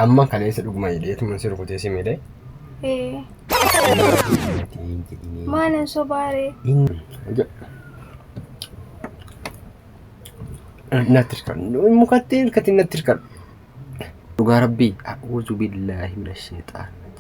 Amma kaleessa dhuguma hidheetuma si rukutee si miidhe. Ee. Maalan sobaaree. Natti hirkadhu. Mukatti hirkatti natti hirkadhu. Dhugaa rabbii. A'uuzu billaahi mina sheexaana.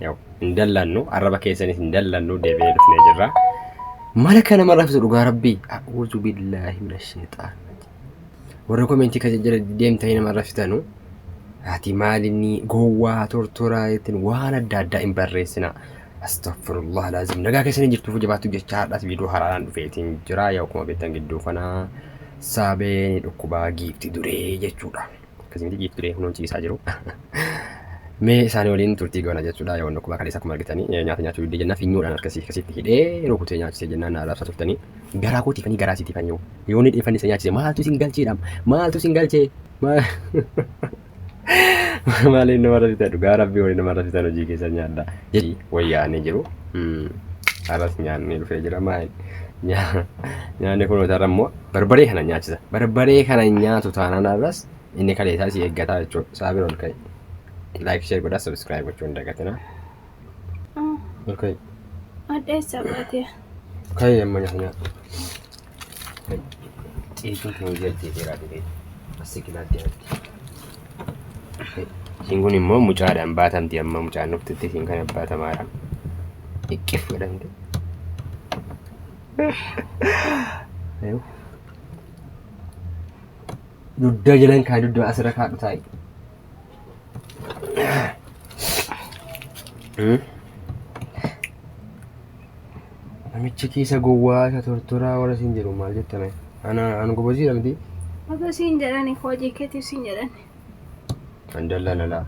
Yaw, hin dallannu arraba keessanis hin dallannu deebi'ee dhufnee jirra. Mala kana nama rafisu dhugaa rabbii. A'uuzu billaahi mina sheexaan. Warra komentii kan jala deemtanii nama rafitanu. Ati maalinni gowwaa tortoraa ittiin waan adda addaa hin barreessina. Astaghfirullah laazim. Nagaa keessanii jirtuuf jabaattu jecha har'as viidiyoo haraadhaan dhufeetiin jira. Yaw akkuma beektan gidduu kana saabee ni dhukkubaa giifti duree jechuudha. akkasii miti ciiftu deemu nuun ciisaa jiru. Mee isaanii waliin turtii goona jechuudha. Yoo wanni akkuma kaleessa akkuma argitanii nyaata nyaachuu diddee jennaan finyoodhaan harkasii akkasitti hidhee rukutee nyaachisee jennaan na arrabsaa turtanii. Garaa koo tiifanii garaa siitiifan yoo. Yoo ni dhiifanni isa nyaachise maaltu isin galcheedhaam maaltu isin galchee maal. Maaliin nama rafita dhugaa rabbii waliin nama rafitan hojii keessa nyaadha. Jedhi wayyaanee jiru. Arras nyaanni dhufee jira maal nyaanni kun hotarra immoo Barbaree kana nyaachisa. Barbaree kana hin nyaatu taanaan arras inni kalee isaa si eeggataa jechuudha. Isaa bira ol ka'i. Like share godhaa subscribe gochuu hin dagatinaa. Ol ka'i. Addeessa baatee. Ka'i amma nyaata nyaata. Ciituu kee hojii ajjeeteeraa dhibee. Asii kilaa deematti. Ishiin kun immoo mucaadhaan baatamti amma mucaan dhuftutti ishiin kana baatamaadha. Iqqif godhamte. dudda jalan kaa dudda asirra kaadhu taa'i. Namichi keessa gowwaa isa tortoraa warra siin jedhu maal jettame? Ana an goboziidha miti. Oto siin jedhani hojii keetiif siin jedhani. Andalla lala.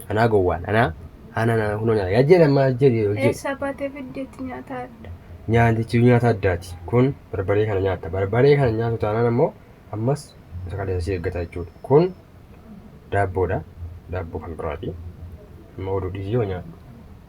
Anaa gowwaan anaa ana na kunoo nyaata yaa jedhe amma jedhe hojii Eessaa baatee fiddeetti nyaata adda. nyaatichi nyaata addaati. Kun barbaree kana nyaatta. Barbaree kana nyaatu taanaan ammoo ammas isa kaleessa si eeggata jechuudha. Kun daabboodha. Daabboo kan biraati. Amma oduu dhiisii yoo nyaadhu.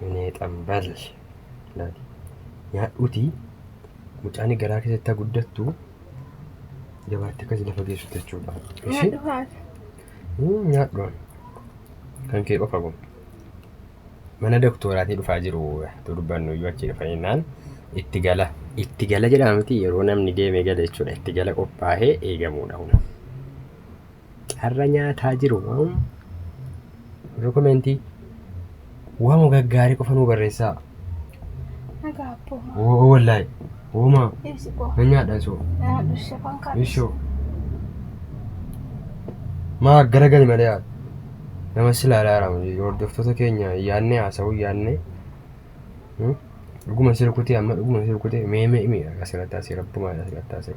Minee xambal laati nyaadhuuti mucaani garaa keessatti guddattu jabaatti akkasi lafa geessu jechuudha. Nyaadhu haati. Nyaadhu kan kee qofa kun. Mana doktoraatii dhufaa jiru durbannu iyyuu achi dhufa jennaan itti gala. Itti gala jedhama miti yeroo namni deemee gala jechuudha. Itti gala qophaa'ee eegamuudha kun. carra nyaataa jiru moo warra komentii waama gaggaarii qofa nuu barreessaa Nagaa abboo. oo wallaahi oomaa Ibsi koo. nan nyaadha isoo Nama dhushee kan kaadhu. ishoo maa gara gali malee haa nama si ilaalaa jira miti hordoftoota keenya yaadne haasa'uu yaadne Hmm? dhuguma si rukutee amma dhuguma si rukutee mee mee mee asirratti asii rabbumaa asirratti asii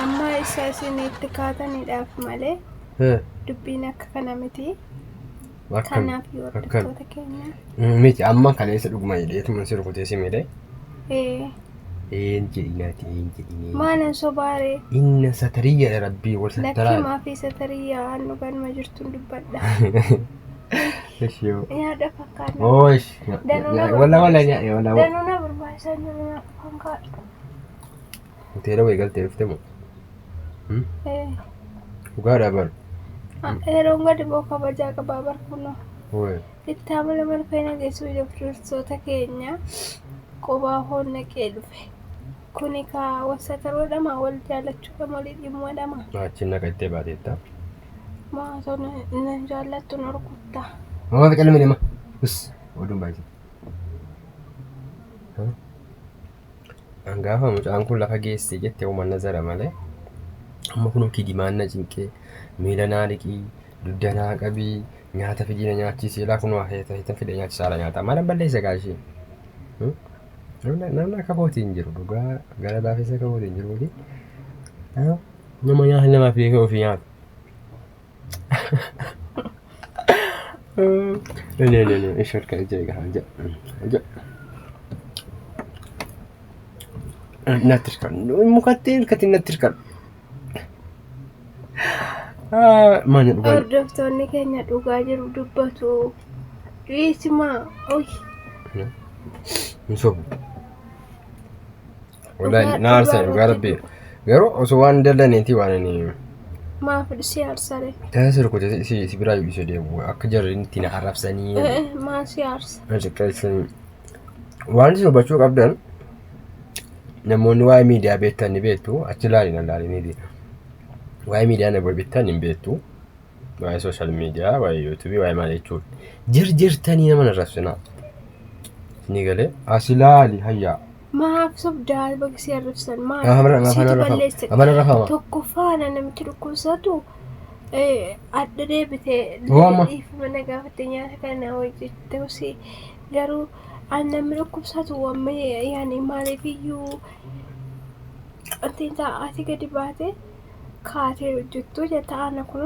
Amma isa isin itti kaataniidhaaf malee Eh, dubbiin akka kana miti. akkami? Kanaaf yoo Akkami? hordoftoota keenya. Mm, Miti amma kaleessa dhuguma hidheetuma si rukutee si miidhe. Ee, Een jedhinaati een jedhinee. maalan sobaaree Inna satariyya rabbii wal lakkii sattaraa. maafii satariyyaa aan dhuganuma jirtuun dubbadha. Ish yoo. Nyaadha fakkaanna. Oosh. Danuu na Walla walla barbaachisa. nyaadhe walla. Danuu na barbaachisaa jiru. Hoteela wayii galtee dhufte moo? Dhugaadhaa bar. Yeroon gadi boo kabajaa qabaa bar kunoo. Wayii. Itti amala marfee nageessuu jabduursoota keenya qubaa hoon naqee dhufe. Kuni kaa wasataroodhama wal jaalachuudha malii dhimmoodhama. Achi naqa ittee baateetta. Maatoo na jaallattu norkuttaa. Mama fi calmi lima. Us oduun baay'isee. An gaafa mucaan kun lafa geessee jette uuman nazara malee amma kun kijimaan na cinqee miila naa dhiqii dugda naa qabii nyaata fidii na nyaachisee laa kun waa heeta heetan fide nyaachisaa laa nyaata malan balleessa gaa ishee. Namni akka kooti hin jiru dhugaa gara laafessa akka kooti hin jiru miti. Nama nyaata namaaf beekee ofii nyaata. No, no, no, no. Ishor kan ija egaa ija. Ija. Natti hirkan. Mukatti hirkatti natti hirkan. Maanya dhugaa. Hordoftoonni keenya dhugaa jiru dubbatu. Dhiisimaa. Oyi. Hin sobu. Wallahi Dhugaa- na aarsa dhugaa dhugaa rabbi. rabbii. Garuu osoo waan hin dallaneeti waan ani Maaf si aarsare? taasisa rukkute si si biraa yuudhise deemu akka jarri itti na arrabsanii Eh, eh, Maa si aarsa? na xiqqeessanii. Waan isin hubachuu qabdan namoonni waa'ee miidiyaa beektan ni beektu achi ilaalina ilaaliniiti. Waa'ee miidiyaa na bittan hin beektu. waa'ee social media waa'ee youtube waa'ee maal jechuun jirjirtanii nama narrabsinaa ni galee asilaali hayyaa Maaf sobdaa baga si arrabsan maaf Maaf arra- maaf situ arrafama? balleesse. Maaf arrafama? Tokkoffaa na namichi dhukkubsatu eh, adda deebite Waama. dhiifama na gaafatte nyaata kana hojjettee si garuu an namni dhukkubsatu wamme yaani maaliif iyyuu wanti hin ta'a ati gadi baate kaatee hojjettuu jetta ana kun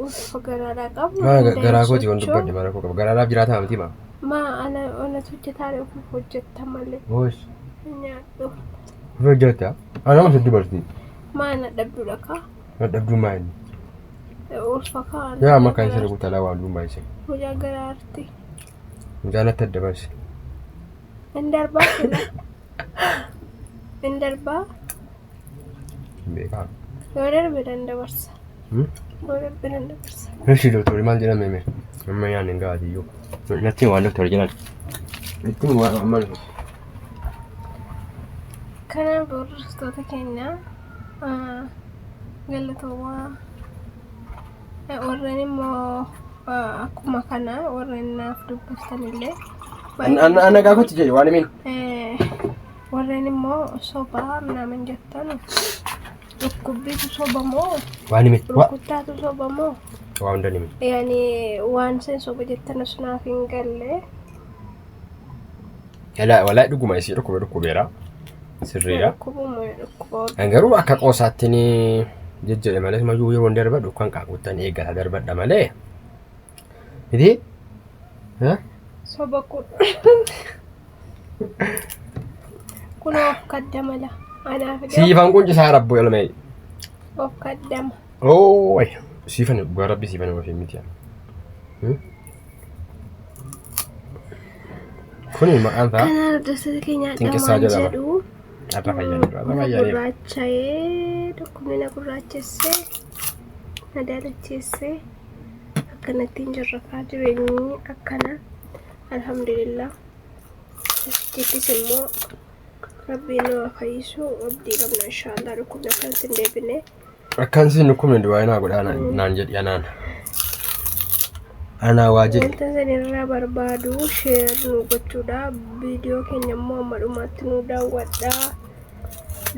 utufa garaadhaa qabu Maa ga- garaa kooti waan dubbadhe maal rakkoo qaba garaadhaaf jiraataa miti maa maa ana anatu hojjetaa kun hojjetta malee hoos nyaadhu of hojjetta anama sitti dubartii maa na dhabdudha kaa dadhabduu maa inni ulfa kaa yaa amma kan isa rukutalaa waan duumaa isa mucaa garaarti mucaan natti adda baase Hin darbaa sila. Hin darbaa. Hin beekaa. Yoo darbe nan dabarsa. Hmm? Yoo darbe nan dabarsa. Eshi doktori maal jedhame mee? Amma yaadne hin gahaati iyyuu. Natti waan doktori jedhan. Itti waan amma Kanaaf hordoftoota keenya ah, galatoomaa. Warreen immoo akkuma kana warreen naaf dubbistan illee. Ana gaafatti jedhe waan himeen. Warreen immoo sobaa minaamin jettan dhukkubbiitu soba moo? Waan himeen. Rukkuttaatu soba moo? Waan himeen. Yaani waan seen soba jettan osoo naaf hin galle. Yalaa walaa dhuguma isii dhukkuba dhukkubeera. Sirriidha. Dhukkubuma dhukkuba. Kan garuu akka qoosaatti ni jejjedhe malee mayyuu yeroo hin darbadhu kan qaaquttan eeggata darbadha malee. Miti? Ha? Soba kun. Kun of kaddama la. Anaaf dhiyoo Siifan quncisaa rabbu elmee. of kaddama. Oo wayi. Siifan dhugaa rabbi siifan ofiin miti. Hmm? Kuni maqaan isaa Kana hordoftoota keenyaa Xinqissaa dhamaan jedhama. jedhu irra fayyanii irra na fayyanii. gurraacha'ee dhukkubni na gurraachessee na daalacheessee akkanatti hin jirrakaa jireenyi akkana alhamdulillah jechis immoo rabbiin nu haa fayyisu abdii qabna inshaallah dhukkubni akkanatti hin deebine Akkan siin dhukkubne du'aa inaa godhaa naan jedhi anaan. Anaa waa jedhi. Wanta isin irraa barbaadu sheer nu gochuudha. Viidiyoo keenya immoo amma dhumaatti nu daawwadha.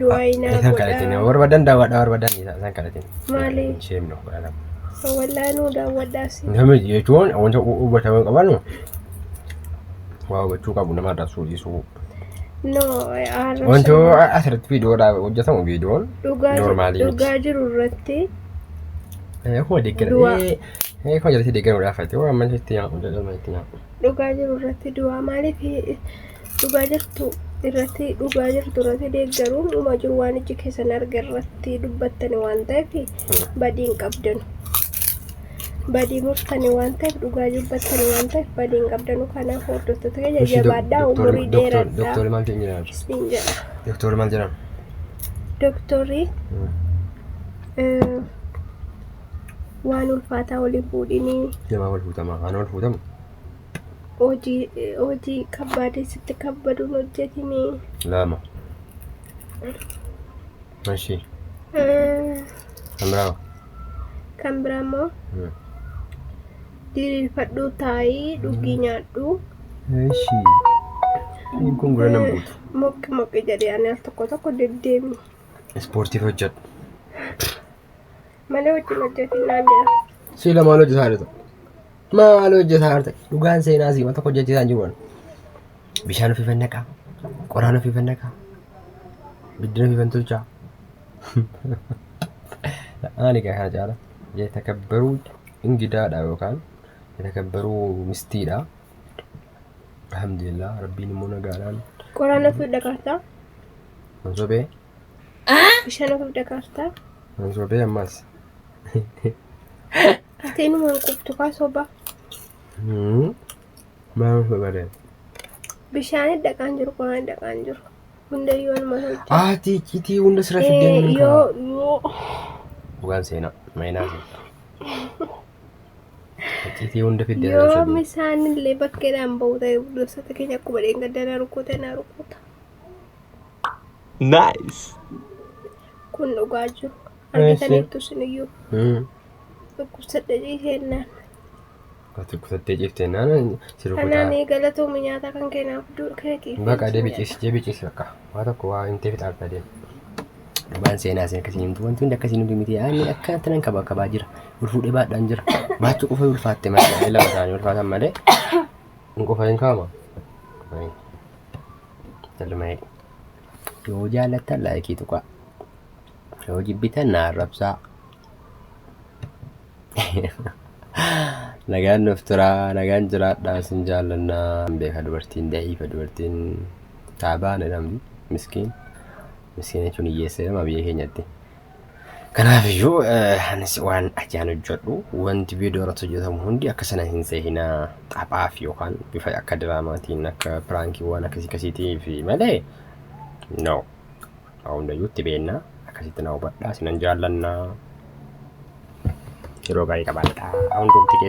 Du'aayinaa Isaan kadhatin godha. barbaadan daawwadha barbaadan isaan kadhatin. Maali? Sheem nuuf godhaa lafa. Wallaahi nu daawwadha si. Namni jechuun wanta hubatamuu qabanu waa hubachuu qabu nama arrabsuu dhiisuu. Wanti asirratti viidiyoodhaaf hojjetamu viidiyoon noormaalii dhugaa jiru irratti akkuma deeggarame akkuma jalatti deeggarame gaafate waan amma itti nyaadhu jedhama itti nyaadhu. Dhugaa jiru irratti du'aa maaliif dhugaa jirtu irratti dhugaa jirtu irratti deeggaruun dhuma jiru waan ijji keessan arge irratti dubbattani waan ta'eef badiin qabdanu. badii murtani waan ta'eef dhugaa dubbattani waan ta'eef badii hin qabdanu kanaaf hordoftoota keenya Ishi dok- jabaadhaa doktorri- umurii doktor- dheeradhaa doktorri maal keenya jedhan? isiniin jedha Doktorri maal jedhan? doktorri Hmm. eh, waan ulfaataa waliin fuudhinii Namaa wal fuutamaa? Ana wal fuutamu? hojii eh, hojii kabbaadee sitti kabbaduun hojjetinii Lama. Ishi. eh, Kan biraa hoo? kan biraa immoo diriirfadhuu taa'ii dhugii nyaadhuu Eshi. Inni kun gura nan buutu. moqqi moqqi jedhee ani al tokko tokko deddeemi Ispoortiif hojjedhu. malee wajjin hojjetiin naan jedha Siila maal hojjetaa jirta? Maal hojjetaa jirta? Dhugaan seenaa siima tokko hojjechiisaan jiru. Bishaan ofiifan naqaa, qoraan ofiifan naqaa, biddeen ofiifan tolchaa. Ani gaa kana caala yatakabbaruu ingidaadha yookaan yatakabbaruu mistiidha. Alhamdulillah rabbiin immoo nagaadhaan Qoraan ofiif dhaqaartaa? hin sobee Bishaan ofiif dhaqaartaa? hin sobee ammas. Itti inuma hin qubtu kaa sobaa. Hmm. Maaf babalee. Bishaanit dhaqaan jiru quraan dhaqaan jiru. Hundayyuu anuma tolcha. Ati iccitii hunda sira fiddee Eh, ni kaa. Yoo yoo Dhugaan seenaa. Maynaa seenaa. Iccitii hunda fiddee sira yoo fiddee. misaan illee bakkeedhaan ba'u ta'e gosoota keenya akkuma dheengadda na rukuta na rukuta. Nice. Kun dhugaa jiru. Nice. Argitaniittu siniyyuu Hmm. dhukkubsadha jennaan. Ati kutattee ciftee naana si rukutaa. Hanaanii galatoomi nyaata kan keenaaf du- keetiif. Baqa deebi ciisi deebi ciisi baqa waa tokko waa himtee fixaarta deem. Dhugaan seenaa isin akkasiin himtu wanti hundi akkasiin hundi miti ani akkanatti nan kaba kabaa jira ol fuudhee baadhaan jira baachuu qofa ulfaatte malee lama isaanii ulfaatan malee hin qofa hin kaama qofa hin galma'ee yoo jaallattan laayikii tuqaa yoo jibbitan na arrabsaa Nagaan nuuf turaa, nagaan jiraadhaa isin jaallannaa. Hin beeka dubartiin da'iifa dubartiin taabaan jedhamti miskiin. Miskiin jechuun hiyyeessa jedhama biyya keenyatti. Kanaaf iyyuu anis waan ajaan hojjedhu wanti viidiyoo irratti hojjetamu hundi akka sana hin seehinaa taphaaf yookaan bifa akka diraamaatiin akka piraankiiwwan akkasii akkasiitiif malee no Waa hundayyuu itti beennaa. Akkasitti na hubadhaa. Isinan jaallanna. Yeroo gaarii qabaadhaa. Hundumti keessa.